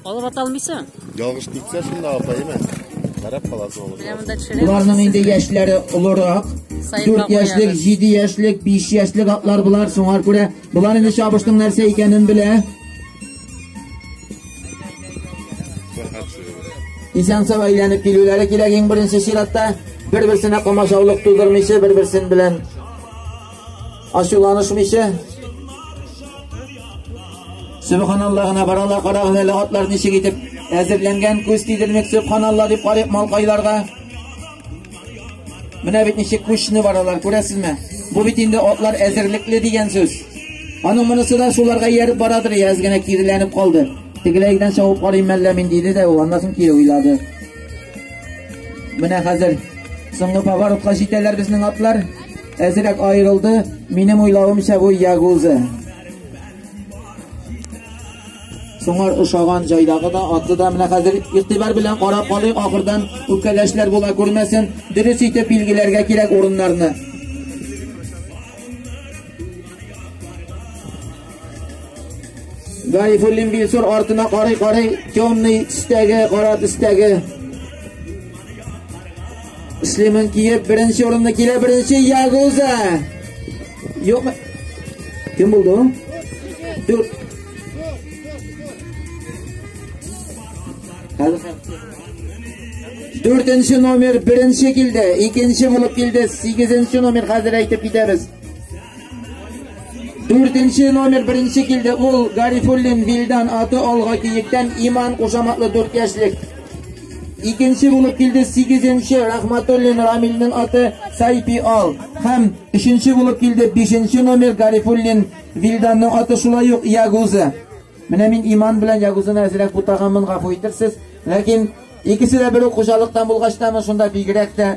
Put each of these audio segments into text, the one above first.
Алып ата алмыйсың? Ялгыш китсә шунда апа име? Карап каласың алып. Менә монда төшерәм. Боларның инде яшьләре олырак. 4 яшьлек, 7 яшьлек, 5 яшьлек атлар болар соңар күрә. Болар инде чабышның нәрсә икәнен белә. Исән сау әйләнеп килүләре кирәк иң беренче чиратта. Бер-берсенә комачаулык тудырмыйча, бер-берсен белән Ачуланышмыйча. Субханалла гына баралар, карагыз әле атлар ничек итеп әзерләнгән, күз тидермик, субханалла дип карыйк малкайларга. Менә бит ничек күчне баралар, күрәсезме? Бу бит инде атлар әзерлекле дигән сүз. Аның монысы да шуларга ияреп барадыр, яз гына киреләнеп калды. Тегеләйдән чабып карыйм мәллә мин диде дә, ул аннан соң кире уйлады. Менә хәзер соңгы поворотка җитәләр безнең атлар. Әзерәк аерылды, минем уйлавымча бу ягузы. Соңар ошаган җайдагы да атлы да менә хәзер игътибар белән карап калыйк, ахырдан үпкәләшләр була күрмәсен. Дөрес итеп билгеләргә кирәк урыннарны. Гайфуллин Билсур артына карый-карый, темный төстәге, кара төстәге Слиман Киев беренче урынны килә, беренче Ягуза. Юк. Кем булды ул? Дүр. Дүртенче номер беренче килде, икенче булып килде, сигезенче номер хәзер әйтеп китәбез. Дүртенче номер беренче килде, ул Гарифуллин Вилдан аты алга киектән Иман кушаматлы дүрт яшьлек. Икенче булып килде 8-нче Рахматуллин Рамилнең аты Сайпи Ал. Һәм өченче булып килде 5-нче номер Гарифуллин Вилданның аты шулай ук Ягуза. Менә мин иман белән Ягузаны әзрәк бутаганмын, гафу итерсез. Ләкин икесе дә бер үк хуҗалыктан булгач та, шунда бигрәк тә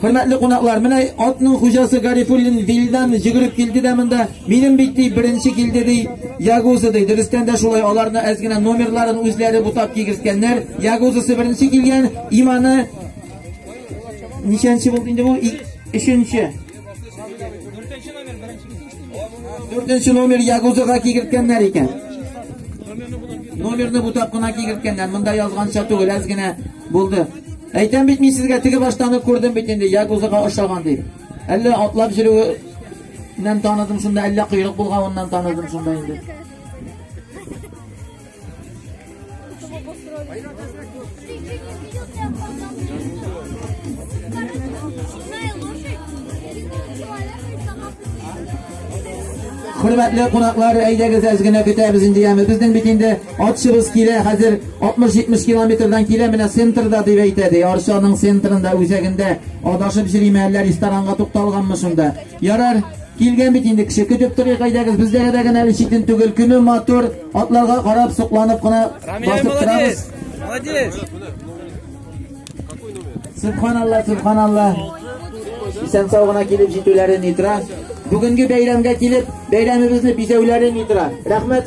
Хөрмәтле кунаклар, менә атның хуҗасы Гарифуллин Вилдан җигреп килде дә монда. Минем бит ди беренче килде ди. Ягузы ди. Дөрестән дә шулай аларны әз генә номерларын үзләре бутап кигерткәннәр. Ягузысы беренче килгән, иманы ничәнче булды инде бу? Өченче. Дүртенче номер беренче. Дүртенче номер Ягузыга кигерткәннәр икән. Номерны бу тапкына кигерткәннәр. Монда язганча түгел, әз генә булды. Әйтәм бит мин сезгә теге баштан ук күрдем бит инде Ягузыга ошаган дип. Әллә атлап йөрүеннән таныдым шунда, әллә койрык булганыннан таныдым шунда инде. Хөрмәтле кунаклар, әйдәгез әз генә көтәбез инде яме. Безнең бит инде атчыбыз килә, хәзер 60-70 километрдан килә, менә центрда дип әйтә ди. Арчаның центрында, үзәгендә адашып җириме әллә ресторанга тукталганмы шунда. Ярар, килгән бит инде кеше көтеп торыйк, әйдәгез, бездә генә әле читен түгел, көне матур. Атларга карап, сокланып кына басып торабыз. Молодец! Субханалла, субханалла. Исән сау гына килеп җитүләрен итра. Бүгенге бәйрәмгә килеп, бәйрәмебезне бизәүләрен итра. Рәхмәт